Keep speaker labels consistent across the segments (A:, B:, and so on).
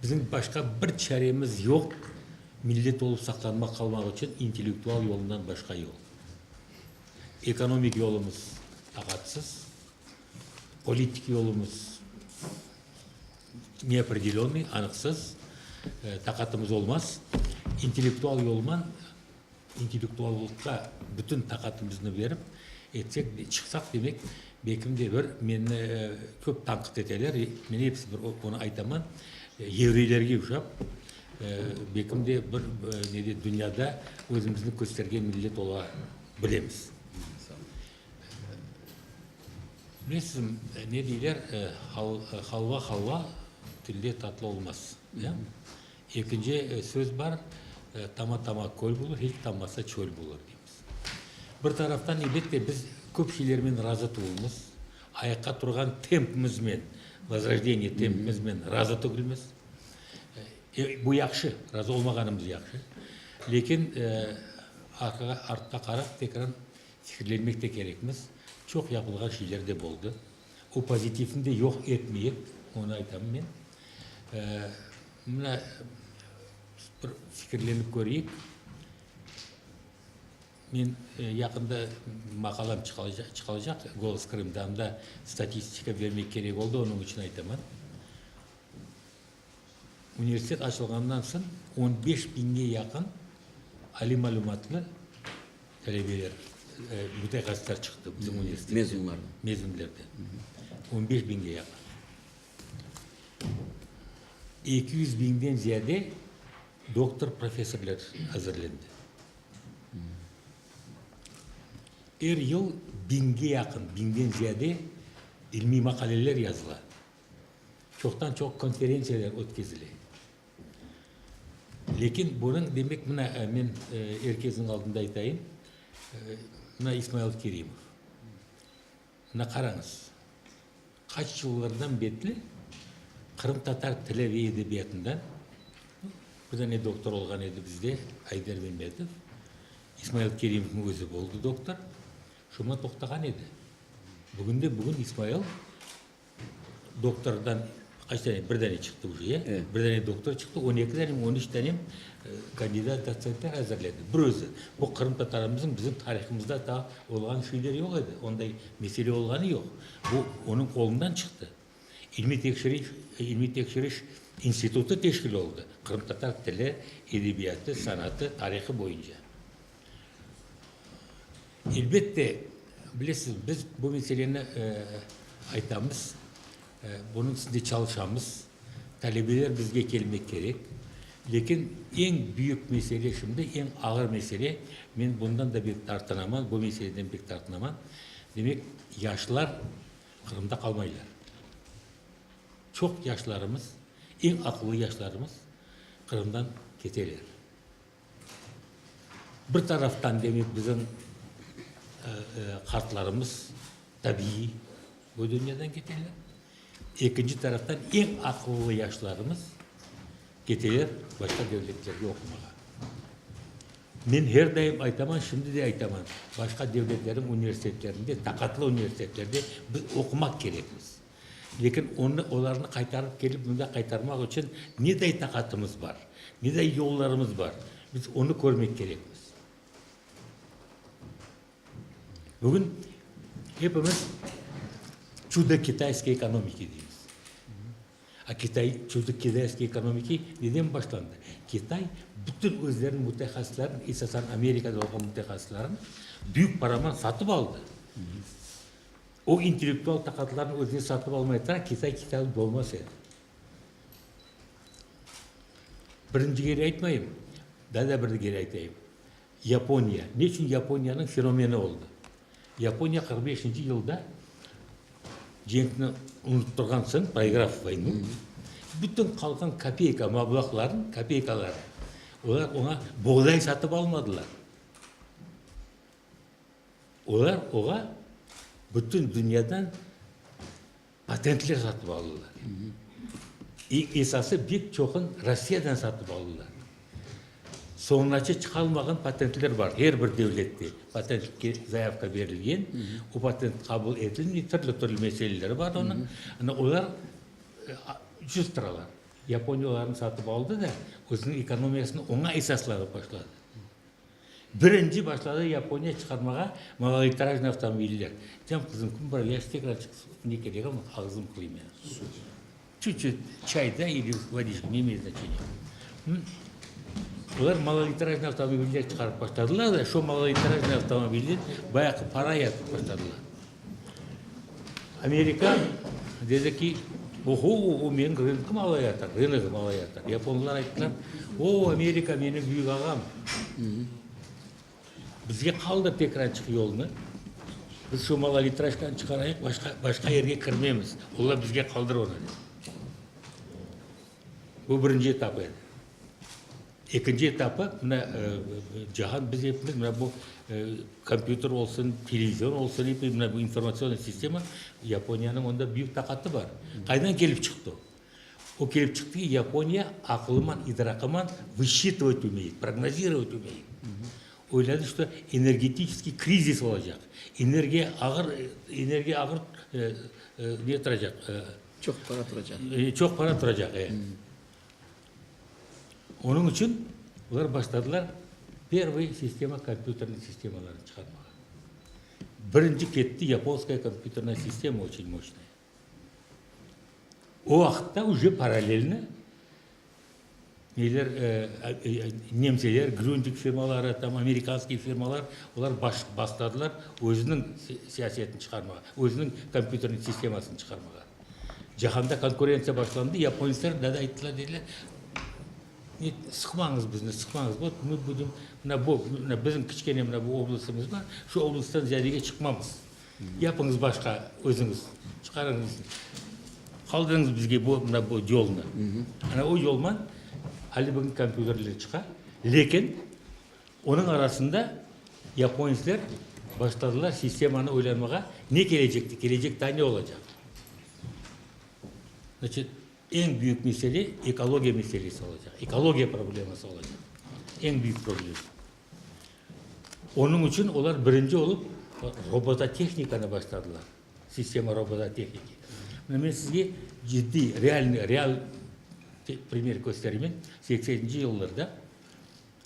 A: Bizim başqa bir çaremiz yoq, millet olıp saqlanmaq, qalmaq içün intellektual yolundan başqa yol. Ekonomik yolumuz taqatsız, politik yolumuz neopredelennıy, anıqsız, taqatımız olmaz, intellektual yolman, intellektuallıqqa bütün taqatımıznı berip etsek, çıqsaq, demek, belkim de bir, meni köp tanqıt eteler, men episi bir onı aytaman, yevreylerge oşap, belkim de bir, ne de, dünyada özümüzni köstergen millet ola bilemiz. Bilesizmi, ne deyler, halva halva, tilde tatlı olmaz, ya? Ekinci söz bar, tama tama köl bulur, hiç tamasa çöl bulur, deymiz. Bir taraftan, elbette, biz köp şeylermen razı tuvulmız, ayaqqa turğan tempimizmen, vozrojdeniye tempimizmen razı tugilmiz. Bu yahşı, razı olmağanımız yahşı. Lekin, artqa qarap, tekrar Fikirlenmek de kerekmiz. Çoq yapılğan şeyler de boldı. O pozitivni de yoq etmeyik, onı aytam men. Mına, bir fikirlenip köreyik. Men yaqında maqalam çıqalacaq Golos Krımda, anda statistika bermek kerek oldı, onıñ içün aytaman. Universitet açılğandan soñ on beş biñge yaqın aliy malümatlı talebeler, mütehassıslar çıqtı bizim universitetke. Mezunlar. Mezunlardan. On beş biñge yaqın. Eki yüz biñden ziyade doktor, professorlar azırlendi. Er yıl biñge yaqın, biñden ziyade ilmiy maqaleler yazıla. çoqtan çoq konferentsiyalar ötkezile. Lâkin bunıñ demek, mına, men er kesniñ aldında aytayım, mına İsmail Kerimov, mına qarañız, qaç yıllardan betli qırımtatar tili ve edebiyatından bir dane doktor olğan edi bizde, Ayder Memetov, İsmail Kerimovnıñ özü oldı doktor, şunda toqtağan edi. Bugün de bugün İsmail Doktordan qaç dane? Bir dane çıqtı uje, ya? E. Bir dane doktor çıqtı, on eki dane mi, on üç dane mi kandidat dotsentler azırladı, bir özü. Bu qırımtatarımızıñ bizim tarihımızda daa olğan şeyler yoq edi, onday mesele olğanı yoq. Bu onıñ qolundan çıqtı. İlmiy tekşiriş, ilmiy tekşiriş institutı teşkil oldı, qırımtatar tili, edebiyatı, sanatı, tarihı boyunca. Elbette, bilesiz, biz bu meseleni aytamız, bunıñ üstünde çalışamız, talebeler bizge kelmek kerek. Lâkin eñ büyük mesele şimdi, eñ ağır mesele, men bundan da pek tartınaman, bu meseleden pek tartınaman, demek, yaşlar Qırımda qalmaylar. Çoq yaşlarımız, eñ aqıllı yaşlarımız Qırımdan keteler. Bir taraftan demek bizim qartlarımız tabiiy bu dünyadan keteler, ekinci taraftan eñ aqıllı yaşlarımız keteler başqa devletlerge oqumağa. Men her daim aytaman, şimdi de aytaman, başqa devletlerniñ universitetlerinde, taqatlı universitetlerde biz oqumaq kerekmiz. Lekin onı, olarnı qaytarıp kelip mında qaytarmaq içün neday taqatımız bar, neday yollarımız bar, biz onı körmek kerekmiz. Bugün hepimiz çudo kitayskoye ekonomiki deymiz. A Kitay çudo kitayskoye ekonomiki neden başlandı? Kitay bütün özleriniñ mütehassıslarınıñ, esasan Amerikada olğan mütehassıslarınıñ büyük paraman satıp aldı. O intellektual taqatlarnı özüne satıp almay tura Kitay kitabı bolmaz edi. Birinci kere aytmayım, daa da bir kere aytayım, Yaponiya, ne içün Yaponiyanıñ fenomeni oldı? Yaponiya qırq beşinci yılda cenkni unutturğan soñ, proygrav voynu, bütün qalğan kapeyka mablağlarını, kapeykalarını, olar oña boğday satıp almadılar. Olar oğa bütün dünyadan patentler satıp aldılar. İ, esası bek çoqun Rossiyadan satıp aldılar. Soñunace çıqalmağan patentler bar, her bir devlette patentke zayavka berilgen, o patent qabul etilmey, tırlı tırlı meseleleri bar onıñ. Ana, olar cüz turalar. Yaponiya olarnı satıp aldı da, özüniñ ekonomiyasını oña esaslavı başladı. Birinci başladı Yaponiya çıqarmağa malolitrajnıy avtomobiller. Diysem, qızım, kim bura yaş tekrar çıqsın, ne kerek ama ağzım qıyım meni, su. Çüt çüt, çay da ili vodiçka, ne imey znaçeniya. Olar malolitrajnıy avtomobiller çıqarıp başladılar da, şo malolitrajnıy avtomobilden bayaqı para yatırıp başladılar. Amerika dedi ki, oho, oho, menim rınıqım alayatır, rınıqım alayatır. Yaponlar ayttılar, o, Amerika, menim büyük ağam, bizge qaldır tek açıq yolnı, biz şu Malolitraşkanı çıqarayıq, başqa, başqa yerge kirmemiz, ola bizge qaldır onı, dedi. Bu birinci etap edi. Ekinci etapı, mına, cahan, biz epimiz, mına bu kompyuter olsun, televizor olsun, epi mına bu informatsiyonnoy sistema, Yaponiyanıñ onda büyük taqatı bar. Qaydan kelip çıqtı o? O kelip çıqtı ki, Yaponiya aqlıman, idraqıman vısçıtovat ümey, prognozirovat ümey. Oyladı, ki, energetiçeskiy krizis olacaq, energiya ağır, energiya ağır ne turacaq,
B: çoq para turacaq,
A: çoq para turacaq, e. Onıñ içün olar başladılar pervıy sistema kompyuterniñ sistemalarını çıqarmağa. Birinci ketti yaponskaya kompyuterna sistema oçün moçnaya. O vaqıtta üce paralelni neler nemseler, gründig firmaları, tam amerikanskiy firmalar olar başladılar özüniñ siyasetini çıqarmağa, özüniñ kompyuterniñ sistemasını çıqarmağa. Cahanda konkurentsiya başlandı, yaponetsler da ayttılar, dediler, ne, sıqmañız bizni, sıqmañız, vot, mı budim, mına bu, mına bizim kiçkene mına bu oblastımız bar, şu oblasttan ziyadege çıqmamız. Yapıñız başqa özüñiz, çıqarıñız, qaldırıñız bizge bu, mına bu yolnı. Ana o yolman, ali bugün kompyuterler çıqa, lekin, Onıñ arasında yaponetsler başladılar sistemanı oylanmağa, ne kelecekte, kelecek daa ne olacaq? Значит, eñ büyük mesele ekologiya meselesi olacaq, ekologiya probleması olacaq, eñ büyük problem. Onıñ içün olar birinci olıp robototehnikanı başladılar, sistema robototehnika. Mına men sizge ciddiy, realniy, real primer kösterimen, sekseninci yıllarda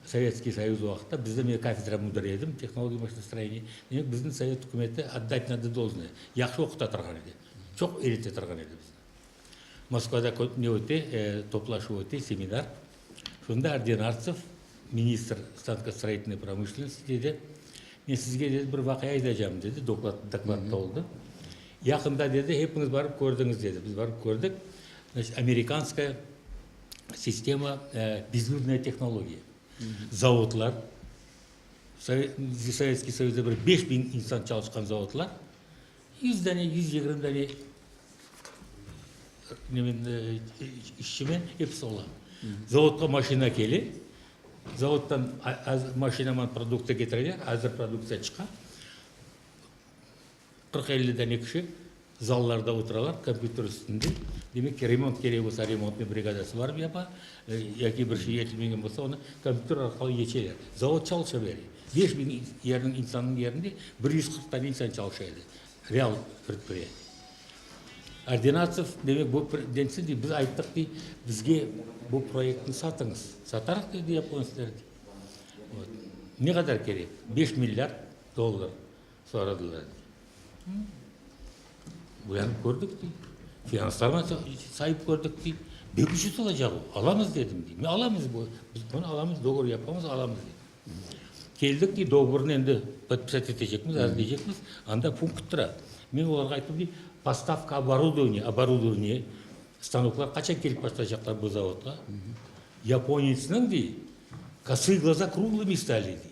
A: Sovetskiy Soyuz vaqıtta bizde, men kafedra müdiri edim, tehnologiya maşinostroyeniya, demek, bizni sovet ükümeti, otdать nada dolžnoye, yahşı oquta turğan edi, çoq eyrete turğan edi bizni. Moskvada ne öte, toplaşuv öte, seminar. Şunda Ordenartsov, ministr stankostoroyitelnıy promışlennosti, dedi, Men sizge, dedi, bir vaqia aytacağım, dedi, doklad, dokladta oldı. Yaqında, dedi, hepiñiz barıp kördiñiz, dedi, biz barıp kördik, значит, amerikanskaya, Sistema, bezürdne tehnologiya. Zavodlar, Sovetskiy Soyuzda bir beş biñ insan çalışqan zavodlar, yüz dane, yüz yigirmi dane işçimen episi ola. Zavodqa maşina kele, zavoddan maşinaman produktsiya ketireler, azır produktsiya çıqa. Qırq-elli dane kişi zallarda oturalar, kompyuter üstünde. Demek ki, remont kerek olsa, remontnıñ brigadası barıp yapa, ya ki bir şey yetilmegen olsa, onı kompyuter arqalı yetişeler. Zavod çalışa bere. Beş biñ yerniñ, insannıñ yerinde bir yüz qırq dane insan çalışa edi, real predpıriyatı. Ordinatsov, demek, bu predpıriyatı dey, biz ayttıq dey, bizge bu proyektni satıñız. Satarıq dedi yaponetsler dey. Ne qadar kerek? Beş milliard dollar. Soradılar, dey. Buyanıp kördik, dey. Finanslarğa sayıp kördik, dey. Bek ucuz olacaq o. Alamız, dedim, dey. Men alamız bu, biz bunı alamız, dogovor yapamız, alamız, dedim. Keldik, dey, dogovornı endi podpisat etecekmiz, azirleycekmiz, anda punkt tura. Men olarğa ayttım, dey, postavka oborodovinie, oborodovinie, stanoklar qaçan kelip başlaycaqlar bu zavodğa? Yaponetsniñ, dey, kosıe gloza, kruglımı istali, dey.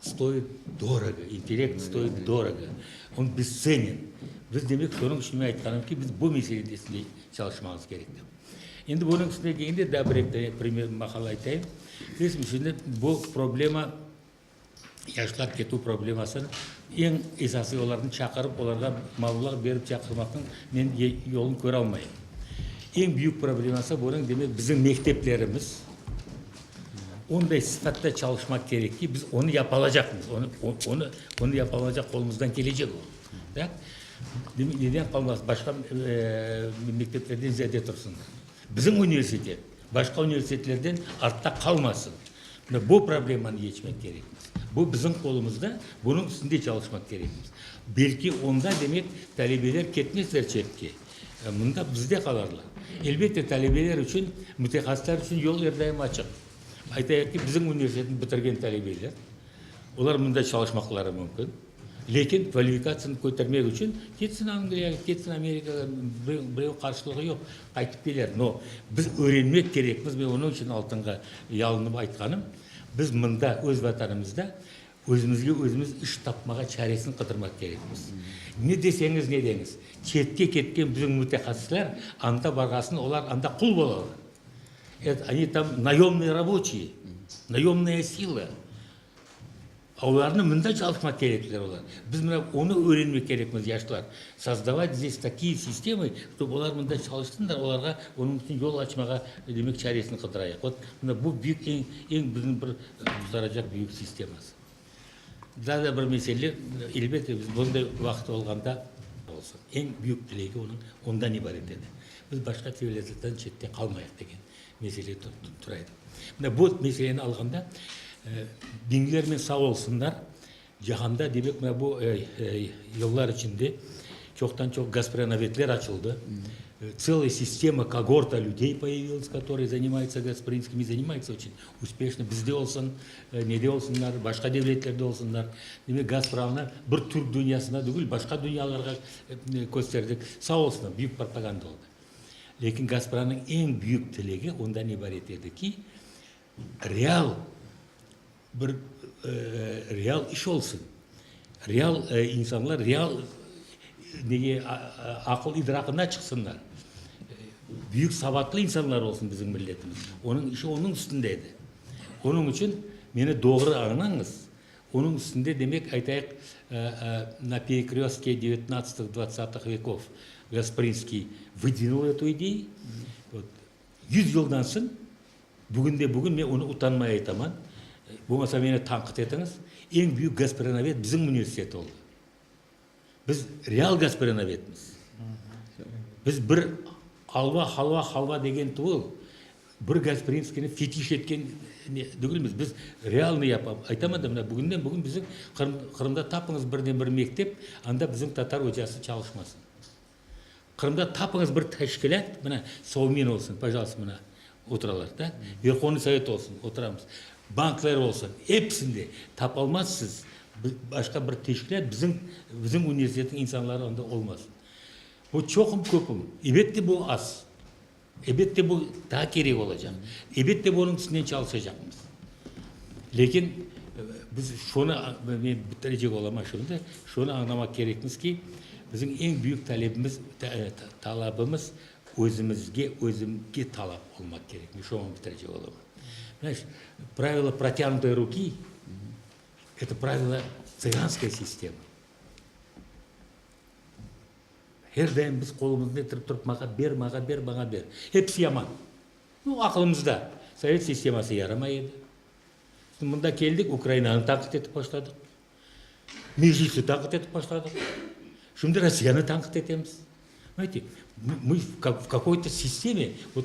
A: Stoyıt dorogo, intellekt stoyıt dorogo, on bescenen. Biz, demek, sonıñ içün men aytqanım ki, biz bu meselede üstünde çalışmamız kerek dep. Endi bunıñ üstüne degende daa bir eki tane primer, maqal aytayım. Desim, şimdi bu problema, yaşlar ketuv problemasını eñ esasıy olarnı çaqırıp, olarğa malulıq berip çaqırmaqnıñ men yolun köralmayım. Eñ büyük probleması bunıñ, demek, bizim mekteplerimiz, Onday sıfatta çalışmaq kerek ki, biz onı yapa alacaqmız, onı, onı, onı yapa alacaq qolumızdan kelecek o. Da? Neden qalmasın, başqa eee mekteplerden ziyade tursın. Bizim universitet başqa universitetlerden artta qalmasın. Mına bu problemanı yetmek kerek. Bu bizim qolumızda, bunıñ üstünde çalışmaq kerekmiz. Belki onda demek talebeler ketmezler çetke. Mında bizde qalarlar. Elbette, talebeler içün, mütehassıslar içün yol er daim açıq. Aytayıq ki, bizim universitetni bitirgen talebeler, olar mında çalışmaqları mümkün, lekin kvalifikatsiyasını kötermek içün ketsin Angliyağa, ketsin Amerikağa, bireu qarsılığı yoq, qaytıp keler. No, biz öğrenmek kerekmiz, men onıñ içün altınğa yalınıp aytqanım, biz mında, öz Vatanımızda Özümizge özümiz iş tapmağa çaresini qıdırmaq kerekmiz. Ne deseñiz, ne deñiz, çetke ketken bizim mütehassisler anda barğasına olar anda qul bolalar. Et, oni tam nayomnıye raboçiye, nayomnıya sila. Olarnı mında çalışmaq kerekler olar. Biz mına onı öğrenmek kerekmiz, yaşlar. Sozdavat zdes takiye sistemı, ktob olar mında çalışsınlar, olarğa onıñ içün yol açmağa, demek, çaresini qıdırayıq. Ot, mına bu büyük, eñ, eñ bizim bir, Qurtaracaq büyük sisteması. Daa da bir mesele, elbette, biz bunday vaqıt olğanda olsun. Eñ büyük tilegi onıñ ondan ibaret edi, biz başqa devletlerden çette qalmayıq degen mesele tura edi. Mına bu meseleni alğanda, diñlermen sağ olsunlar, Cahanda, demek, mına bu yıllar içinde çoqtan-çoq gasprenovedler açıldı, tseliy sistema, kogorta lüdey poyaviliz, katorıy zanimaytsa gasprinskimi, zanimaytsa oçün uspeşno, bizde olsun, ne de olsunlar, başqa devletlerde olsunlar. Demek, Gazpramnı bir türk dünyasına degil, başqa dünyalarğa kösterdik. Sağ olsunlar, büyük propaganda oldı. Lâkin Gazpramnıñ eñ büyük tilegi ondan ibaret edi ki, real, Bir real iş olsun, real insanlar real nege, aqıl idraqına çıqsınlar, büyük savatlı insanlar olsun bizim milletimiz. Onıñ işi onıñ üstünde edi. Onıñ içün meni doğru añlañız, onıñ üstünde demek aytayıq, na perekrestke devetnadstih dvacatih vekov Gasprinskiy vıdvinıl etu ideyi, Yüz yıldan soñ, bugün de bugün men onı utanmay aytaman, bolmasa meni tanqıt etiñiz, eñ büyük Gasprenovet bizim universitet oldı. Biz real Gasprenovetmiz. Biz bir alva, halva, halva degen tuvıl, bir Gasprinskiyni fetiş etken degilmiz. Biz realnı yapamız. Aytaman da, mına bugünden bugün bizim Qırımda tapıñız birden bir mektep, anda bizim tatar ocası çalışmasın. Qırımda tapıñız bir teşkilât, mına, Sovmin olsun, pajaltsta, mına, oturalar da, Verhovnıy Sovet olsun, oturamız, bankler olsun, episinde tapalmazsız başqa bir teşkilât, bizim, bizim universitetniñ insanları onda olmaz. Bu çoqum, köpüm? Elbette, bu az. Elbette bu daa kerek olacaq. Elbette bu onıñ üstünden çalışacaqmız. Lâkin biz şunı, men bitirecek olam aşuında, şunı añlamaq kerekmiz ki, bizim eñ büyük talebimiz, talabımız özümizge, özümge talap olmaq kerek. Men şuan bitirecek olam. Mına şu pravilo protyanutoi ruki, eto pravilo tsıganskaya sistema. Her daim biz qolumıznı etirip turıp, mağa ber, mağa ber, mağa ber. Episi yaman. Bu aqlımızda. Sovet sisteması yaramay edi. Şimdi mında keldik, Ukrainanı tanqit etip başladıq. Meclisni tanqit etip başladıq. Şimdi Rossiyanı tanqit etemiz. Bilete, mı, mı, v, v kakoy to sisteme, vot,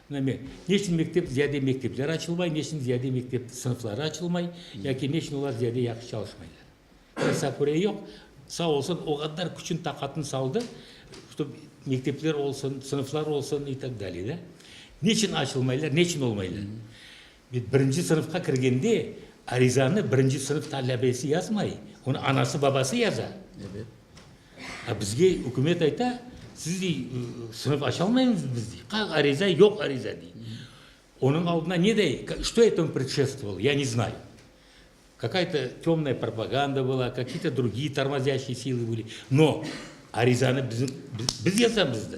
A: Neme, ne içün mektep, ziyade mektepler açılmay, ne içün ziyade mektep sınıfları açılmay, yaki ne içün olar ziyade yahşı çalışmaylar? Tesaffurie yoq, sağ olsun, o qadar küçün, taqatın saldı, чтоб mektepler olsun, sınıflar olsun, i tak dalye, da. Ne içün açılmaylar, ne içün olmaylar? Birinci sınıfqa kirgende arizanı birinci sınıf talabesi yazmay, onı anası-babası yaza.
B: A
A: bizge ükümet ayta, siz, dey, sınıf açalmaymız biz, dey. Qaq ariza, yoq ariza, dey. Onıñ aldına ne dey, Что etому predşestvovalo, ya ne znay. Kakay to temnaya propaganda bola, kaki to drugi tormozyaşiye silai boli. No, arizanı biz yazamız da.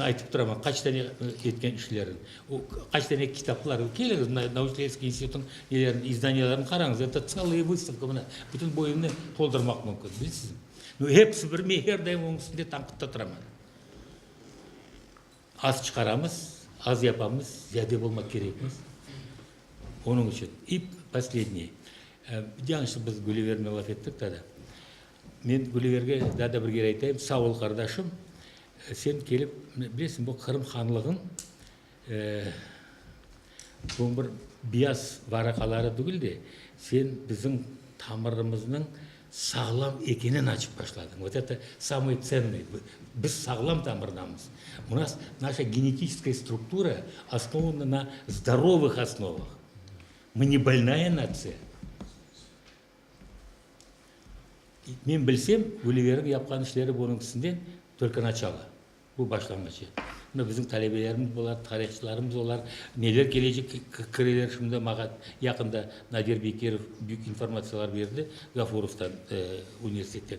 A: Aytıp turaman, qaç tane etken işlerin, qaç tane kitaplar, keliñiz, Nauçileyevskiy institutnıñ nelerini, izdaniyalarını qarañız, ete tselaya vıstavka, mına, bütün bu evni toldurmaq mümkün, bilesizmi? Mına, hepsi bir, men her daim onıñ üstünde tanqıtta turaman. Az çıqaramız, az yapamız, ziyade olmaq kerekmiz, onıñ içün. İ posledniye, yanlış biz Gülüverni laf ettik tada. Men Guliyerge daa da bir kere aytayım, sağ ol, qardaşım, sen kelip, bilesiñ, bu Qırım hanlığınıñ bu bir biyaz varaqaları tügül de, sen bizim tamırımıznıñ sağlam ekenen açıp başladıñ. Vot eto samıye tsennıye, biz sağlam tamırdamız. U nas naşa genetiçeskoye struktura osnovana na zdorovıh osnovah. Mı ne bolnaya natsiya. Men bilsem, Güliveriñ yapqan işleri bunıñkisinden törkanaçalı, bu başlanğıç. Mına, bizim talebelerimiz bolar, tarihçılarımız olar, neler kelece kireler şimdi mağa. Yaqında Nadir Bekirov büyük informatsiyalar berdi Ğafurovdan universitetten.